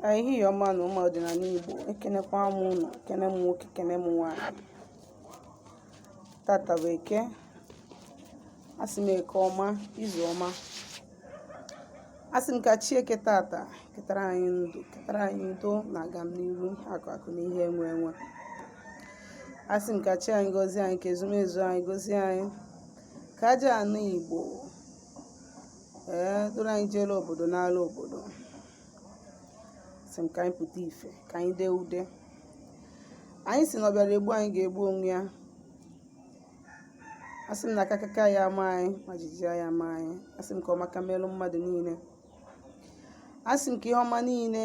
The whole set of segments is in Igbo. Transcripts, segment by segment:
ehihie ọma nụ ụmụ ọdịnala Igbo ekenekwa m ụnụ kene m nwoke kene m nwaanyị tata bụ eke asị m eke ọma izu ọma asị m ka chi eke tata ketara anyị ndụ ketara anyị udo na agamniru akụ akụ na ihe enwe enwe asị m ka chi anyị gozie anyị ka ezumezu anyị gozie anyị ka aja ana Igbo ee duru anyị jeela obodo naala obodo sị m ka anyị pụta ife ka anyị dee ude anyị sị na ọ bịara egbu anyị ga-egbu onwe ya asị m na akakaka ya ama anyị ma jijiji ya ama anyị asị m ka ọ maka melụ mmadụ niile asị m ka ihe ọma niile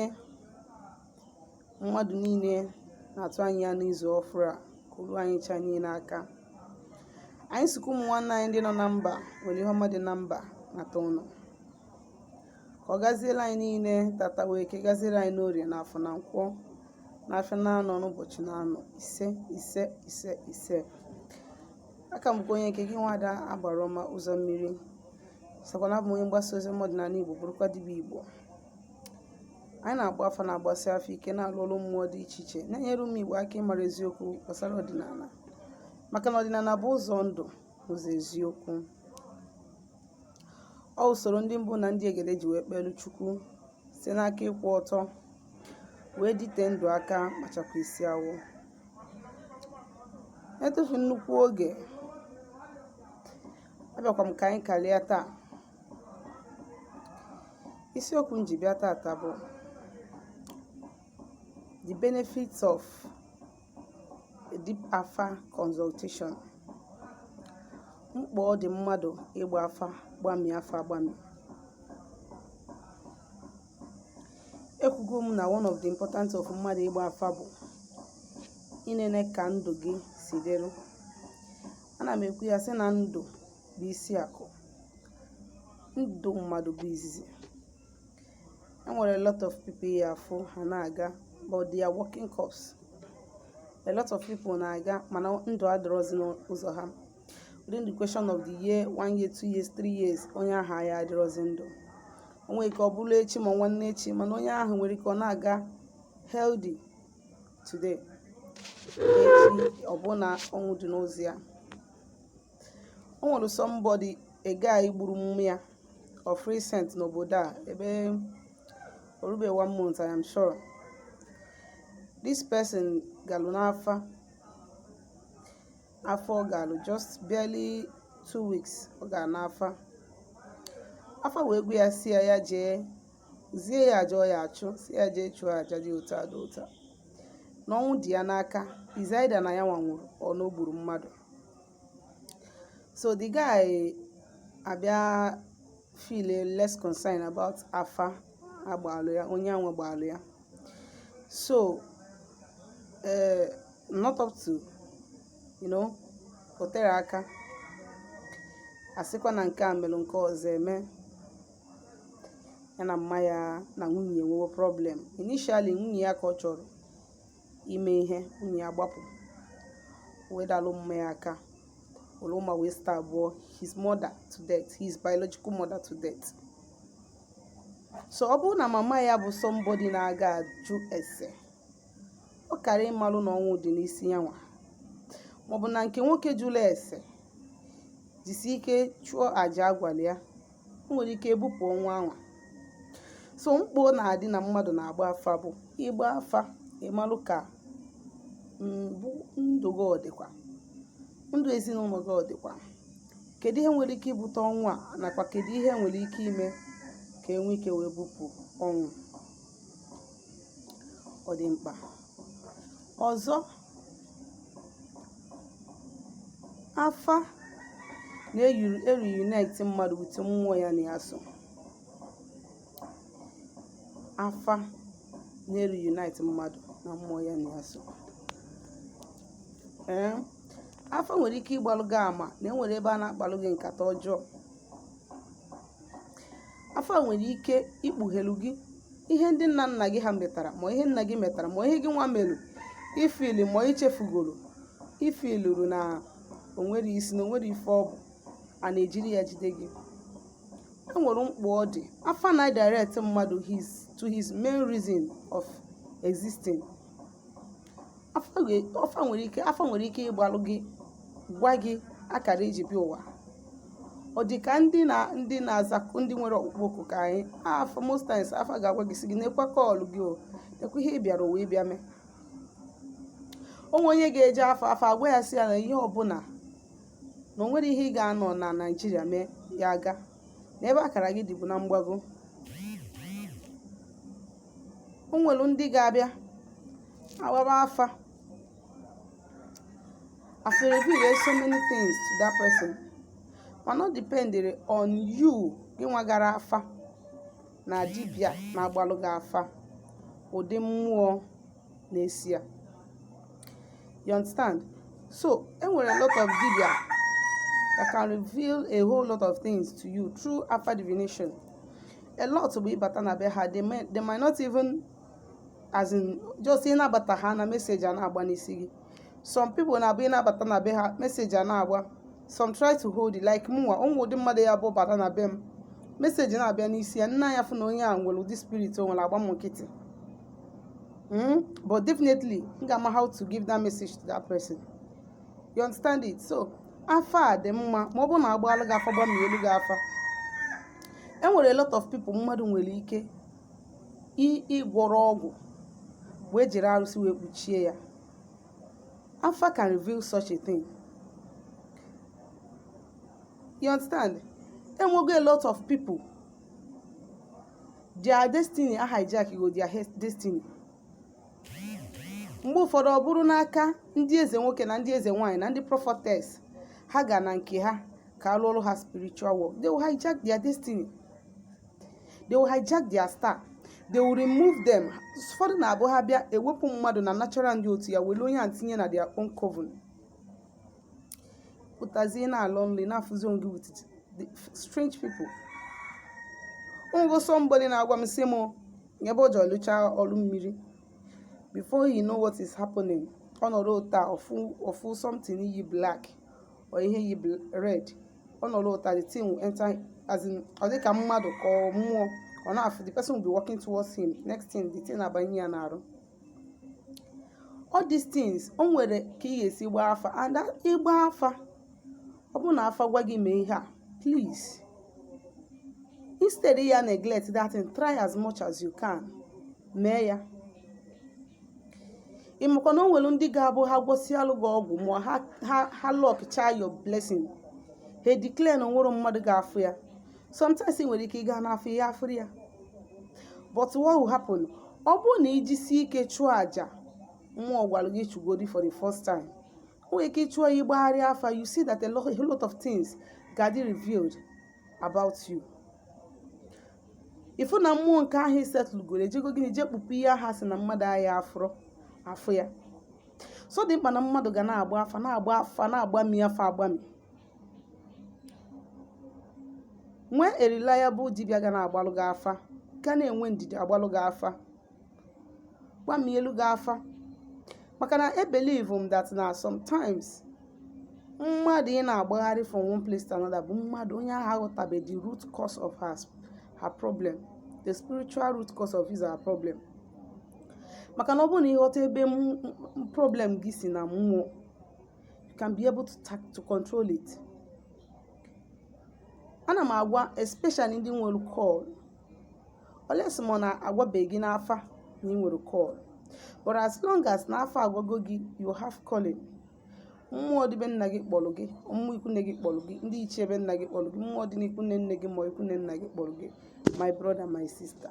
mmadụ niile na-atụ anya ya n'izu ọfụrụ a ka o lu anyị cha niile aka anyị sịkwa ụmụ nwanne anyị ndị nọ na mba were ihe ọma dị na mba nata ụnọ ka ọ gaziere anyị niile tata bụ eke gaziere anyị n'orie na afọ na nkwọ na afịa na anọ n'ụbọchị na anọ ise ise ise ise aka m bụkwa onye nke gị nwada agbara ọma ụzọ mmiri sokwa na-abụ onye mgbasa ozi ọma ọdịnala igbo bụrụkwa dibịa igbo anyị na-agba afa na-agbasi afa ike na-alụ ọlụ mmụọ dị iche iche na-enyere ụmụ Igbo aka ịmara eziokwu gbasara ọdịnala maka na ọdịnala bụ ụzọ ndụ ụzọ eziokwu ọ usoro ndị mbụ na ndị egede ji wee kpelu Chukwu site n'aka ịkwụ ọtọ wee dịte ndụ aka ma chakwaa isi awọ etufu nnukwu oge abịakwa m ka anyị kalịa taa isiokwu m ji bịa tata bụ the benefits of a deep afa consultation mkpa ọ dị mmadụ ịgba afa gbami afa agbami ekwugo m na one of the important of mmadụ ịgba afa bụ inene ka ndụ gị si dịrị ana m ekwu ya sị na ndụ bụ isi akụ ndụ mmadụ bụ izizi e nwere a lot of people ị ya-afụ ha na-aga but they are walking corpse a lot of people na-aga mana ndụ adịrọzi n'ụzọ ha within the question of the year one year two years three years onye ahụ ya adịrọzi ndụ o nwere ike ọ bụrụ echi ma nwanne echi mana onye ahụ nwere ike ọ na-aga healthy today echi ọ bụrụ na ọnwụ dị n'ụzọ ya o nwere somebody a guy gburu mma ya of recent n'obodo a ebe orube one month i am sure this person galụ n'afa afa ọ galụ just barely two weeks ọ gara n'afa afa wee gwa ya si ya ya jee zie ya aja ọ ya-achụ si ya jee chụọ aja dị otu a dị otu a na ọnwụ dị ya n'aka is either na ya nwa nwụrụ or na o gburu mmadụ so the guy abịa feel less concerned about afa a gbalụ ya onye anwa gbalụ ya so eh, not up to you know o tere aka a sịkwa na nke a mere nke ọzọ eme ya na mma ya na nwunye nwewe problem initially nwunye ya ka ọ chọrọ ime ihe nwunye ya gbapụ wee dalụ mma ya aka were mma wee stabụọ his mother to death his biological mother to death so ọ bụrụ na mama ya bụ somebody na-aga ajụ ese ọ kara ịmalụ na ọnwụ dị n'isi ya nwa maọbụ na nke nwoke jụrụ ese jisi ike chụọ aja a gwalụ ya o nwere ike ebupụ ọnwụ anwa so mkpa ọ na-adị na mmadụ na-agba afa bụ ịgba afa ịmalụ ka ndụ gị ọ dịkwa ndụ ezinụlọ gị ọ dịkwa kedu ihe nwere ike ibute ọnwụ a nakwa kedu ihe nwere ike ime ka enwe ike wee bupụ ọnwụ ọ dị mkpa ọzọ afa na-reunite mmadụ with mmụọ ya na ya so afa na-reunite mmadụ na mmụọ ya na ya so ee afa nwere ike ịgbalụ gị ama na enwere ebe a na-akpalụ gị nkata ọjọọ afa nwere ike ikpughelu gị ihe ndị nna nna gị ha metara ma ihe nna gị metara ma ihe gị nwa melu ife ị lụrụ ma ichefugoro ife i loro na onwere isi na onwere ife ọ bụ a na-ejiri ya jide gị e nwere mkpa ọ dị afa na-direct mmadụ to his main reason of existing afa nwere ike afa nwere ike ịgbalụ gị gwa gị akara iji bịa ụwa ọ dị ka ndị na ndị na-aza ndị nwere ọkpụkpọ oku ka anyị afa most times afa ga-agwa gị si gị nekwa call gị o nekwa ihe ị bịara ụwa ịbịa mee o nwee onye ga-eje afa afa agwa ya si ya na ihe ọbụla na o nwere ihe ị ga-anọ na nigeria mee ya aga n'ebe akara gị dịbu na mgbago o nwere ndị ga-abịa agbaba afa afa reveal so many things to that person mana ọ dependere on you gị nwa gara afa na dibia na-agbalụ gị afa ụdị mmụọ na-eso ya you understand so enwere a lot of dibia that can reveal a whole lot of things to you through afa divination a lot bụ ị bata na be ha they may, they might not even as in just ị na-abata ha na message a na-agba n'isi gị some people na-abụ ị na-abata na be ha message a na-agba some try to hold it like mụnwa o nwee ụdị mmadụ ya bụ bata na be m message na-abịa n'isi ya nna ya fụ na onye a nwere ụdị spirit o nwere agba m nkịtị Mm? But definitely, m ga-ama how to give that message to that person. You understand it? So, afa dị mma ma ọ bụrụ na a gbaalụ gị afa gbamielu gị afa e nwere a lot of people mmadụ nwere ike ịgwọrọ ọgwụ wee jiri arụsị wee kpuchie ya afa can reveal such a thing you understand enwego a lot of people their destiny a hijack go their he- destiny mgbe ụfọdụ ọ bụrụ n'aka ndị eze nwoke na ndị eze nwaanyị na ndị prophetess ha ga na nke ha ka a lụọlụ ha spiritual work they will hijack their destiny they will hijack their star they will remove them ụfọdụ na-abụ ha bịa ewepụ mmadụ na natural ndị otu ya were onye a tinye na their own coven pụtazie na-alọ nlọ ị na-afụzi onwe gị with the strange people o nwego somebody na-agwa m sị m n'ebe o ji ọ lụcha ọrụ mmiri before you know what is happening ọ nọrọ otu a ọ fụ ọ fụ something yi black or ihe yi bl- red ọ nọrọ otu a the thing will enter as in ọ dị ka mmadụ ka ọ mmụọ ọ na-afụ the person will be walking towards him next thing the thing abanye ya n'arụ all these things o nwere ka ị ga-esi gbaa afa and ịgba afa ọ bụrụ na afa gwa gị mee ihe a please instead ị ya neglect that thing try as much as you can mee ya ị makwa na o nwere ndị ga-abụ ha gwọsịalụ gị ọgwụ ma ha ha ha lockchaa your blessing ha declare na o nwerọ mmadụ ga-afụ ya sometimes ị nwere ike ịga n'afa ha afụrọ ya but what will happen ọ bụrụ na i jisie ike chụọ àjà mmụọ gwara gị chụgodi for the first time o nwere ike ị chụọ ya ị gbagharịa afa you see that a lot, a lot of things ga-adị revealed about you ị fụ na mmụọ nke ahụ isetụlugoro ejego gịnị jee kpupu ihe a ha sị na mmadụ ahịa afụrụ afụ ya so ọ dị mkpa na mmadụ ga na-agba afa na-agba afa na-agbami afa agbami nwee a reliable dibịa ga na-agbalụ gị afa ga na-enwe ndidi agbalụ gị afa gbamielu gị afa maka na ebelieve m that na sometimes mmadụ ị na-agbagharị from one place to another bụ mmadụ onye ahụ aghọtabe the root cause of her, her problem the spiritual root cause of his her problem maka na ọ bụrụ na ị ghọta ebe problem gị si na mmụọ you can be able to, ta- to control it ana m agwa especially ndị nwere call unless ma na agwabeghị gị n'afa na ị nwere call but as long as na afa agwago gị you have calling mmụọ dị be nna gị kpọrọ gị mmụọ ikwunne gị kpọrọ gị ndị ichie be nna gị kpọrọ gị mmụọ dị n'ikwunne nne gị ma ikwunne nna gị kpọrọ gị my brother my sister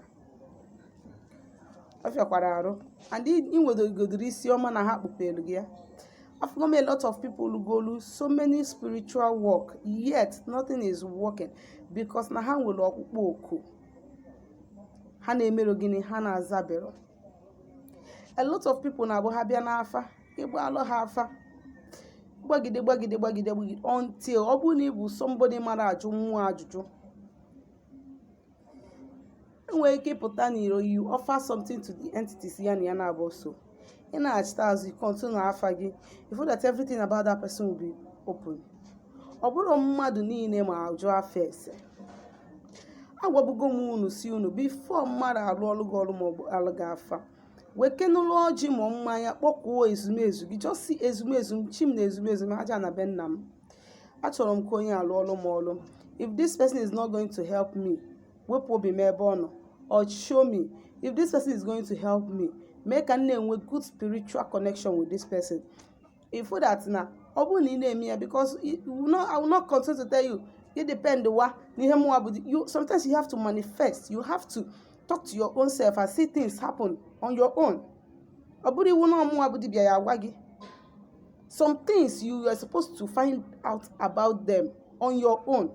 ọ fịakwara arụ and i nwedogodoro isi ọma na ha kpupelu gị ya afụgo m a lot of people lụgolu so many spiritual work yet nothing is working because na ha nwere ọkpụkpọ oku ha na-emerọ gịnị ha na-azaberọ a lot of people na-abụ ha bịa n'afa ị gbaalụ ha afa gbagide gbagide gbagide gbagide until ọ bụrụ na ị bụ somebody mara ajụ mmụọ ajụjụ enwere ike ịpụta n'iro you offer something to the entities ya na ya na-abụ so ị nachita azụ ị continue afa gị ị fụ that everything about that person will be open ọ bụrọ mmadụ niile ma ajụ afa ese agwabugo m unu sị unu before mmadụ arụọlụ gị ọrụ maọbụ gbaalụ gị afa wekenụlụ ọjị ma mmanya kpọkuo ezumezu gị jọọ sị ezumezu m chi m na ezumezu m aja ana be nna m achọrọ m ka onye a lụọlụ m ọlụ if this person is not going to help me wepụ obi m ebe ọ nọ or show me if this person is going to help me mee ka m na-enwe good spiritual connection with this person ị fụ that na ọ bụrụ na ị na-eme ya because i will not- I will not continue to tell you ị dependwa n'ihe mụwa bụ di- you sometimes you have to manifest you have to talk to your own self and see things happen on your own ọ bụrọ iwu na ọ mụwa bụ dibịa ya-agwa gị some things you are supposed to find out about them on your own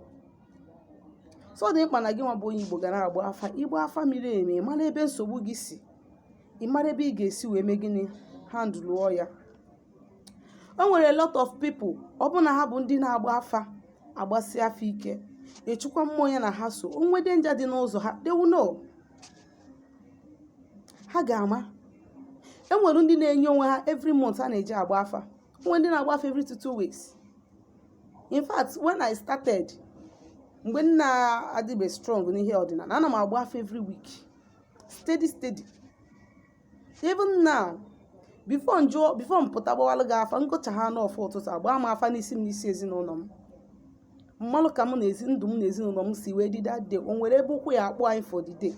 so ọ dị mkpa na gị nwa bụ onye igbo ga na-agba afa ịgba afa miri emi ị mara ebe nsogbu gị si ị mara ebe ị ga-esi wee mee gịnị handụlụọ ya o nwere a lot of people ọ bụrụ na ha bụ ndị na-agba afa agbasi afa ike echukwa mmụọ ya na ha so o nwee danger dị n'ụzọ ha they will know ha ga-ama e nwere ndị na-enye onwe ha every month a na-eji agba afa o nwere ndị na-agba afa every two two weeks in fact when i started mgbe m na-adịbe strong n'ihe ọdịnala ana m agba afa every week steady steady even now before m pụta gbawalụ gị afa m gọchaana ọfọ ụtụtụ agbaa m afa n'isi m n'isi ezinụlọ m m malụ ka mụ na ezi ndụ m na ezinụlọ m si wee dị that day o nwere ebe ụkwụ ya akpụ anyị for the day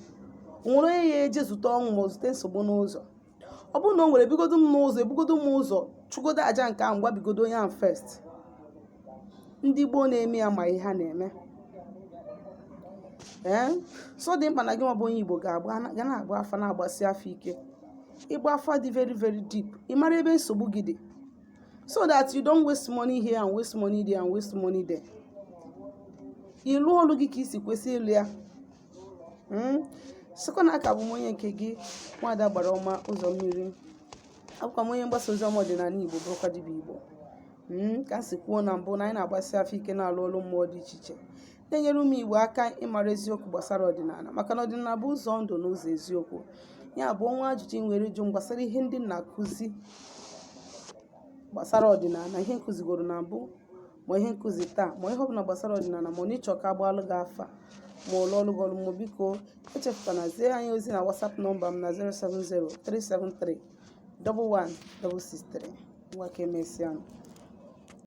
o nwere onye ya-eje zute ọnwụ ma ọ zute nsogbu n'ụzọ ọ bụrụ na o nwere ebugodo m n'ụzọ ebugodo m ụzọ chụgodo aja nke ahụ gwabigodo onye ahụ first ndị gboo na-eme ya ma ihe ha na-eme ee so ọ dị mkpa na gị nwa bụ onye igbo ga-agba ga na-agba afa na-agbasi afa ike ịgba afa dị very very deep ị mara ebe nsogbu gị dị so that you don't waste money here and waste money there and waste money there ịlụ ọlụ gị ka i si kwesị ịlụ ya hmm? sịkwa na a ka bụ m onye nke gị nwada agbara ọma ụzọ mmiri abụkwa m onye mgbasa ozi ọma ọdịnala igbo bụrụkwa dibịa igbo hmm? ka m si kwuo na mbụ na anyị na-agbasi afa ike na-alụ ọlụ mmụọ dị iche iche na-enyere ụmụ Igbo aka ịmara eziokwu gbasara ọdịnala maka na ọdịnala bụ ụzọ ndụ na ụzọ eziokwu ya bụ o nwee ajụjụ i nwere ịjụ m gbasara ihe ndị m na-akụzi gbasara ọdịnala ihe m kụzigoro na mbụ ma ihe m kụzi taa ma ihe ọbụla gbasara ọdịnala ma na ị chọ ka a gbaalụ gị afa ma a lụọlụ gị ọlụ mmụọ biko echefukwana zie anyị ozi na WhatsApp nọmba m na 070-373-11163 ngwa ka emesịa